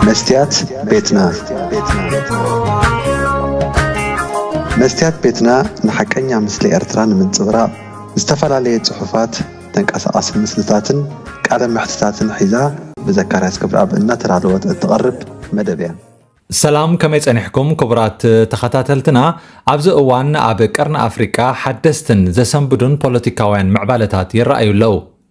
መስትያት ቤትና መስትያት ቤትና ንሓቀኛ ምስሊ ኤርትራ ንምንጽብራቕ ዝተፈላለየ ጽሑፋት፣ ተንቀሳቓሲ ምስልታትን ቃለ መሕትታትን ሒዛ ብዘካርያስ ክብረኣብ እናተዳለወት እትቐርብ መደብ እያ። ሰላም ከመይ ጸኒሕኩም ክቡራት ተኸታተልትና ኣብዚ እዋን ኣብ ቀርኒ ኣፍሪቃ ሓደስትን ዘሰንብዱን ፖለቲካውያን ምዕባለታት ይረኣዩ ኣለዉ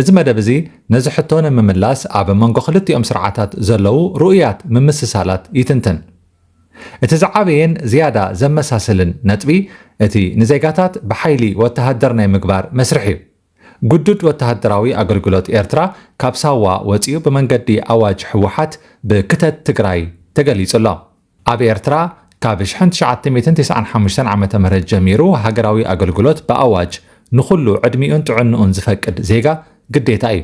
እዚ መደብ እዚ ነዚ ሕቶ ንምምላስ ኣብ መንጎ ክልቲኦም ስርዓታት ዘለዉ ርኡያት ምምስሳላት ይትንትን። እቲ ዝዓበየን ዝያዳ ዘመሳስልን ነጥቢ እቲ ንዜጋታት ብሓይሊ ወተሃደር ናይ ምግባር መስርሕ እዩ። ግዱድ ወተሃደራዊ ኣገልግሎት ኤርትራ ካብ ሳዋ ወጺኡ ብመንገዲ ኣዋጅ ህወሓት ብክተት ትግራይ ተገሊጹ ኣሎ። ኣብ ኤርትራ ካብ ሽሕን ትሽዓተ ሚእትን ተስዓን ሓሙሽተን ዓመተ ምህረት ጀሚሩ ሃገራዊ ኣገልግሎት ብኣዋጅ ንኹሉ ዕድሚኡን ጥዕንኡን ዝፈቅድ ዜጋ ግዴታ እዩ።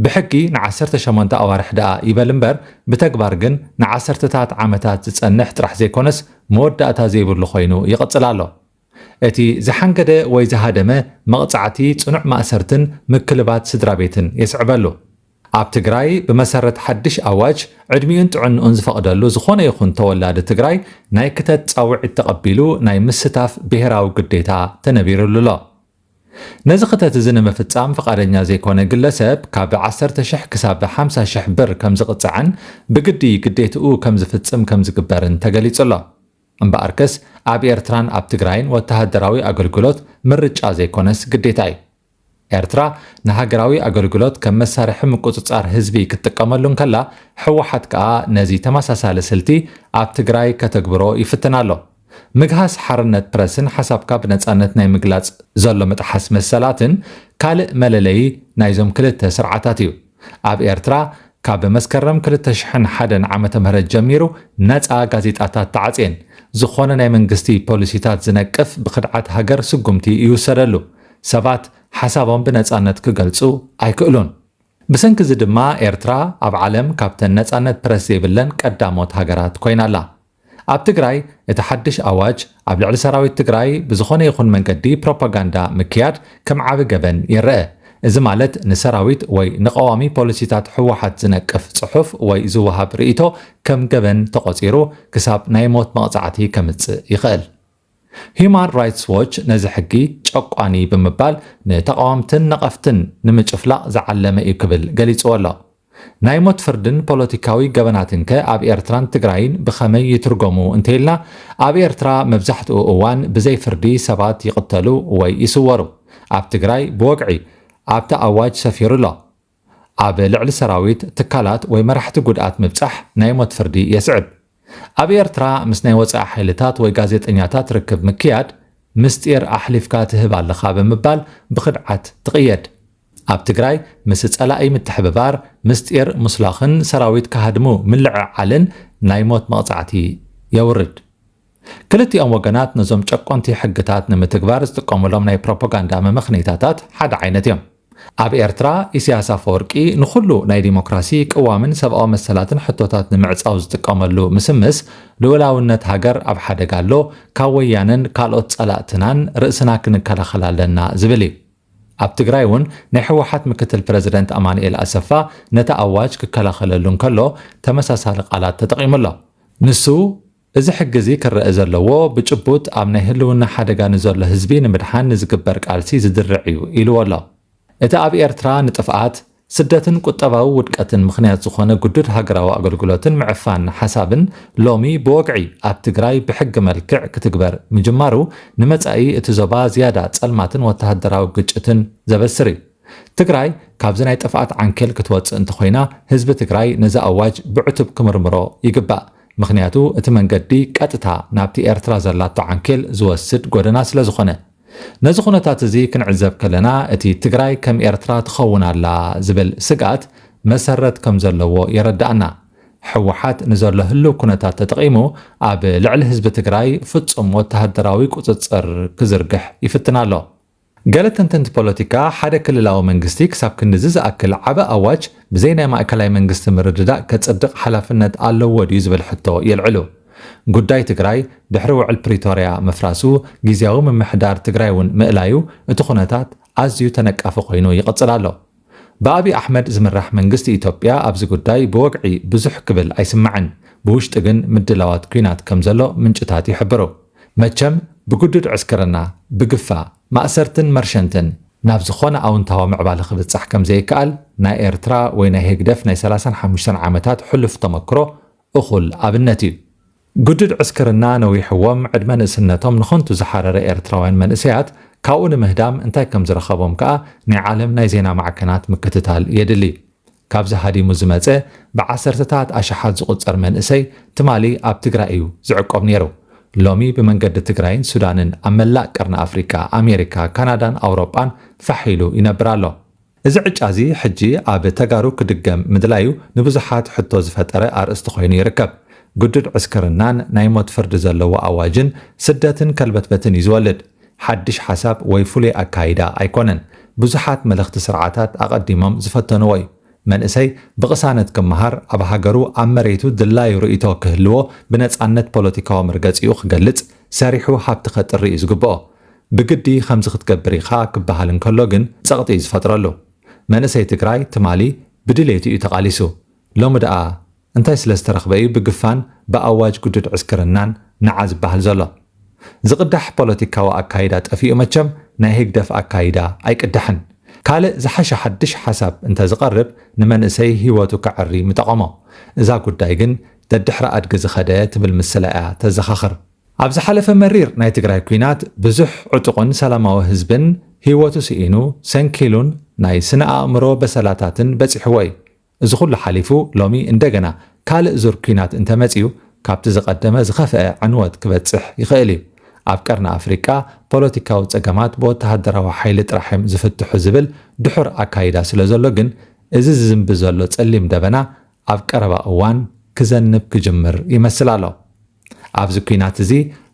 ብሕጊ ንዓሰርተ ሸሞንተ ኣዋርሕ ደኣ ይበል እምበር ብተግባር ግን ንዓሰርተታት ዓመታት ዝጸንሕ ጥራሕ ዘይኮነስ መወዳእታ ዘይብሉ ኮይኑ ይቕጽል ኣሎ። እቲ ዝሓንገደ ወይ ዝሃደመ መቕጻዕቲ ጽኑዕ ማእሰርትን ምክልባት ስድራቤትን የስዕበሉ። ኣብ ትግራይ ብመሰረት ሓድሽ ኣዋጅ ዕድሚኡን ጥዕንኡን ዝፈቕደሉ ዝኾነ ይኹን ተወላዲ ትግራይ ናይ ክተት ጻውዒት ተቐቢሉ ናይ ምስታፍ ብሄራዊ ግዴታ ተነቢርሉ'ሎ። ነዚ ክተት እዚ ንምፍጻም ፍቓደኛ ዘይኮነ ግለሰብ ካብ ዓሰርተ ሽሕ ክሳብ ሓምሳ ሽሕ ብር ከምዝቕጻዕን ብግዲ ግዴትኡ ከምዝፍጽም ከምዝግበርን ተገሊጹ'ሎ። እምበኣርከስ ኣብ ኤርትራን ኣብ ትግራይን ወተሃደራዊ ኣገልግሎት ምርጫ ዘይኮነስ ግዴታ እዩ። ኤርትራ ንሃገራዊ ኣገልግሎት ከም መሳርሒ ምቁጽጻር ህዝቢ ክትጥቀመሉ እንከላ፣ ህወሓት ከኣ ነዚ ተመሳሳሊ ስልቲ ኣብ ትግራይ ከተግብሮ ይፍትን ኣሎ። ምግሃስ ሓርነት ፕረስን ሓሳብካ ብነጻነት ናይ ምግላጽ ዘሎ ምጥሓስ መሰላትን ካልእ መለለዪ ናይዞም ክልተ ስርዓታት እዩ። ኣብ ኤርትራ ካብ መስከረም ክልተ ሽሕን ሓደን ዓመተ ምህረት ጀሚሩ ነጻ ጋዜጣታት ተዓጽየን። ዝኾነ ናይ መንግስቲ ፖሊሲታት ዝነቅፍ ብኽድዓት ሃገር ስጉምቲ ይውሰደሉ። ሰባት ሓሳቦም ብነጻነት ክገልጹ ኣይክእሉን። ብሰንኪ እዚ ድማ ኤርትራ ኣብ ዓለም ካብተን ነጻነት ፕረስ ዘይብለን ቀዳሞት ሃገራት ኮይና ኣላ። ኣብ ትግራይ እቲ ሓድሽ ኣዋጅ ኣብ ልዕሊ ሰራዊት ትግራይ ብዝኾነ ይኹን መንገዲ ፕሮፓጋንዳ ምክያድ ከም ዓቢ ገበን ይረኣ። እዚ ማለት ንሰራዊት ወይ ንቀዋሚ ፖሊሲታት ህወሓት ዝነቅፍ ጽሑፍ ወይ ዝወሃብ ርእይቶ ከም ገበን ተቖጺሩ ክሳብ ናይ ሞት መቕጻዕቲ ከምጽእ ይኽእል። ሂዩማን ራይትስ ዎች ነዚ ሕጊ ጨቋኒ ብምባል ንተቓወምትን ነቐፍትን ንምጭፍላቕ ዝዓለመ እዩ ክብል ገሊጽዎ ኣሎ። ናይ ሞት ፍርድን ፖለቲካዊ ገበናትንከ ኣብ ኤርትራን ትግራይን ብኸመይ ይትርጎሙ እንተይልና ኣብ ኤርትራ መብዛሕትኡ እዋን ብዘይ ፍርዲ ሰባት ይቕተሉ ወይ ይስወሩ። ኣብ ትግራይ ብወግዒ ኣብቲ ኣዋጅ ሰፊሩ ኣሎ። ኣብ ልዕሊ ሰራዊት፣ ትካላት ወይ መራሕቲ ጉድኣት ምብጻሕ ናይ ሞት ፍርዲ የስዕብ። ኣብ ኤርትራ ምስ ናይ ወጻኢ ሓይልታት ወይ ጋዜጠኛታት ርክብ ምክያድ ምስጢር ኣሕሊፍካ ትህብ ኣለኻ ብምባል ብኽድዓት ትቕየድ። ኣብ ትግራይ ምስ ጸላኢ ምትሕብባር፣ ምስጢር ሙስላኽን ሰራዊት ክሃድሙ ምልዕዓልን ናይ ሞት መቕጻዕቲ የውርድ። ክልቲኦም ወገናት ነዞም ጨቆንቲ ሕግታት ንምትግባር ዝጥቀሙሎም ናይ ፕሮፖጋንዳ መመኽነይታታት ሓደ ዓይነት እዮም። ኣብ ኤርትራ ኢሲያስ ኣፈወርቂ ንኹሉ ናይ ዲሞክራሲ፣ ቅዋምን ሰብኣዊ መሰላትን ሕቶታት ንምዕጻው ዝጥቀመሉ ምስምስ ልኡላውነት ሃገር ኣብ ሓደጋ ኣሎ፣ ካብ ወያነን ካልኦት ጸላእትናን ርእስና ክንከላኸል ኣለና ዝብል እዩ። ኣብ ትግራይ እውን ናይ ህወሓት ምክትል ፕረዚደንት ኣማኑኤል ኣሰፋ ነቲ ኣዋጅ ክከላኸለሉ እንከሎ ተመሳሳሊ ቃላት ተጠቒሙ ኣሎ። ንሱ፣ እዚ ሕጊ እዚ ክረኣ ዘለዎ ብጭቡጥ ኣብ ናይ ህልውና ሓደጋ ንዘሎ ህዝቢ ንምድሓን ንዝግበር ቃልሲ ዝድርዕ እዩ ኢልዎ ኣሎ። እቲ ኣብ ኤርትራ ንጥፍኣት፣ ስደትን ቁጠባዊ ውድቀትን ምኽንያት ዝኾነ ግዱድ ሃገራዊ ኣገልግሎትን ምዕፋን ሓሳብን ሎሚ ብወግዒ ኣብ ትግራይ ብሕጊ መልክዕ ክትግበር ምጅማሩ ንመጻኢ እቲ ዞባ ዝያዳ ጸልማትን ወተሃደራዊ ግጭትን ዘበስር እዩ። ትግራይ ካብዚ ናይ ጥፍኣት ዓንኬል ክትወጽእ እንተኾይና ህዝቢ ትግራይ ነዚ ኣዋጅ ብዕቱብ ክምርምሮ ይግባእ። ምኽንያቱ እቲ መንገዲ ቀጥታ ናብቲ ኤርትራ ዘላቶ ዓንኬል ዝወስድ ጎደና ስለዝኾነ። ነዚ ኩነታት እዚ ክንዕዘብ ከለና እቲ ትግራይ ከም ኤርትራ ትኸውን ኣላ ዝብል ስግኣት መሰረት ከምዘለዎ የረድኣና። ህወሓት ንዘሎ ህልው ኩነታት ተጠቒሙ ኣብ ልዕሊ ህዝቢ ትግራይ ፍጹም ወተሃደራዊ ቁጽጽር ክዝርግሕ ይፍትን ኣሎ። ገለ ተንተንቲ ፖለቲካ፣ ሓደ ክልላዊ መንግስቲ ክሳብ ክንድዚ ዝኣክል ዓቢ ኣዋጅ ብዘይ ናይ ማእከላይ መንግስቲ ምርድዳእ ከጽድቕ ሓላፍነት ኣለዎ ድዩ ዝብል ሕቶ የልዕሉ። ጉዳይ ትግራይ ድሕሪ ውዕል ፕሪቶርያ ምፍራሱ ግዝያዊ ምምሕዳር ትግራይ'ውን ምእላዩ እቲ ኩነታት ኣዝዩ ተነቃፊ ኮይኑ ይቕጽል ኣሎ። ብኣብይ ኣሕመድ ዝምራሕ መንግስቲ ኢትዮጵያ ኣብዚ ጉዳይ ብወግዒ ብዙሕ ክብል ኣይስማዕን፣ ብውሽጢ ግን ምድላዋት ኲናት ከምዘሎ ምንጭታት ይሕብሩ። መቸም ብግዱድ ዕስክርና፣ ብግፋ፣ ማእሰርትን መርሸንትን ናብ ዝኾነ ኣውንታዊ ምዕባለ ክብጻሕ ከምዘይከኣል ናይ ኤርትራ ወይ ናይ ህግደፍ ናይ ሰላሳን ሓሙሽተን ዓመታት ሕሉፍ ተመክሮ እኹል ኣብነት እዩ። ግዱድ ዕስክርና ነዊሕዎም ዕድመ ንእስነቶም ንኸንቱ ዝሓረረ ኤርትራውያን መንእሰያት ካብኡ ንምህዳም እንታይ ከም ዝረኸቦም ከኣ ናይ ዓለም ናይ ዜና ማዕከናት ምክትታል የድሊ። ካብዚ ሃዲሙ ዝመጸ ብዓሰርተታት ኣሽሓት ዝቑጸር መንእሰይ ትማሊ ኣብ ትግራይ እዩ ዝዕቆብ ነይሩ። ሎሚ ብመንገዲ ትግራይን ሱዳንን ኣብ መላእ ቀርኒ ኣፍሪቃ፣ ኣሜሪካ፣ ካናዳን ኣውሮጳን ፋሕ ኢሉ ይነብር ኣሎ። እዚ ዕጫ'ዚ ሕጂ ኣብ ተጋሩ ክድገም ምድላዩ ንብዙሓት ሕቶ ዝፈጠረ ኣርእስቲ ኮይኑ ይርከብ። ግዱድ ዕስክርናን ናይ ሞት ፍርዲ ዘለዎ ኣዋጅን ስደትን ከልበትበትን እዩ ዝወልድ። ሓድሽ ሓሳብ ወይ ፍሉይ ኣካይዳ ኣይኮነን። ብዙሓት መለኽቲ ስርዓታት ኣቐዲሞም ዝፈተንዎ እዩ። መንእሰይ ብቕሳነት ክመሃር፣ ኣብ ሃገሩ ኣብ መሬቱ ድላዩ ርእይቶ ክህልዎ፣ ብነጻነት ፖለቲካዊ መርገጺኡ ክገልጽ፣ ሰሪሑ ሃብቲ ከጥሪ እዩ ዝግብኦ። ብግዲ ከምዚ ክትገብር ኢኻ ክበሃል እንከሎ ግን ጸቕጢ እዩ ዝፈጥረሉ። መንእሰይ ትግራይ ትማሊ ብድሌቱ እዩ ተቓሊሱ። ሎሚ ደኣ እንታይ ስለ ዝተረኽበ እዩ ብግፋን ብኣዋጅ ግዱድ ዕስክርናን ንዓ ዝበሃል ዘሎ? ዝቕዳሕ ፖለቲካዊ ኣካይዳ ጠፊኡ መቸም ናይ ህግደፍ ኣካይዳ ኣይቅዳሕን። ካልእ ዝሓሸ ሓድሽ ሓሳብ እንተ ዝቐርብ ንመንእሰይ ህይወቱ ከዐሪ ምጠቐሞ። እዛ ጉዳይ ግን ደድሕሪ ኣድጊ ዝኸደ ትብል ምስላ እያ ተዘኻኽር። ኣብ ዝሓለፈ መሪር ናይ ትግራይ ኲናት ብዙሕ ዕጡቕን ሰላማዊ ህዝብን ህይወቱ ስኢኑ፣ ሰንኪሉን ናይ ስነ ኣእምሮ በሰላታትን በጺሕዎ እዩ። እዚ ኹሉ ሓሊፉ ሎሚ እንደገና ካልእ ዙር ኲናት እንተመጺኡ ካብቲ ዝቐደመ ዝኸፍአ ዕንወት ክበጽሕ ይኽእል እዩ። ኣብ ቀርኒ ኣፍሪቃ ፖለቲካዊ ጸገማት ብወተሃደራዊ ሓይሊ ጥራሕ እዮም ዝፍትሑ ዝብል ድሑር ኣካይዳ ስለዘሎ ግን እዚ ዝዝንቢ ዘሎ ጸሊም ደበና ኣብ ቀረባ እዋን ክዘንብ ክጅምር ይመስል ኣሎ። ኣብዚ ኲናት እዚ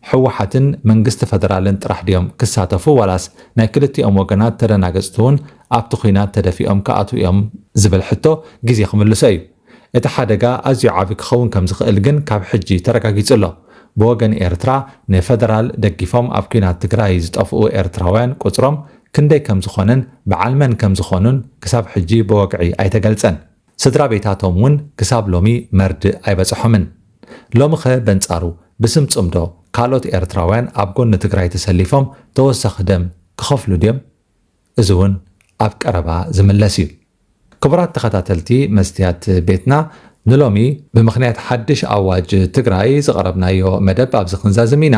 ህወሓትን መንግስቲ ፈደራልን ጥራሕ ድዮም ክሳተፉ ዋላስ ናይ ክልቲኦም ወገናት ተደናገፅቲ ውን ኣብቲ ኲናት ተደፊኦም ክኣትዉ እዮም ዝብል ሕቶ ግዜ ክምልሶ እዩ። እቲ ሓደጋ ኣዝዩ ዓብዪ ክኸውን ከም ዝኽእል ግን ካብ ሕጂ ተረጋጊፁ ኣሎ። ብወገን ኤርትራ ንፈደራል ደጊፎም ኣብ ኲናት ትግራይ ዝጠፍኡ ኤርትራውያን ቁፅሮም ክንደይ ከም ዝኾነን በዓል መን ከም ዝኾኑን ክሳብ ሕጂ ብወግዒ ኣይተገልፀን። ስድራቤታቶም እውን ክሳብ ሎሚ መርድእ ኣይበጸሖምን። ሎሚኸ በንጻሩ ብስም ጽምዶ ካልኦት ኤርትራውያን ኣብ ጎኒ ትግራይ ተሰሊፎም ተወሳኺ ደም ክኸፍሉ ድዮም? እዚ እውን ኣብ ቀረባ ዝምለስ እዩ። ክቡራት ተኸታተልቲ መስትያት ቤትና ንሎሚ ብምኽንያት ሓድሽ ኣዋጅ ትግራይ ዝቐረብናዮ መደብ ኣብዚ ክንዛዝም ኢና።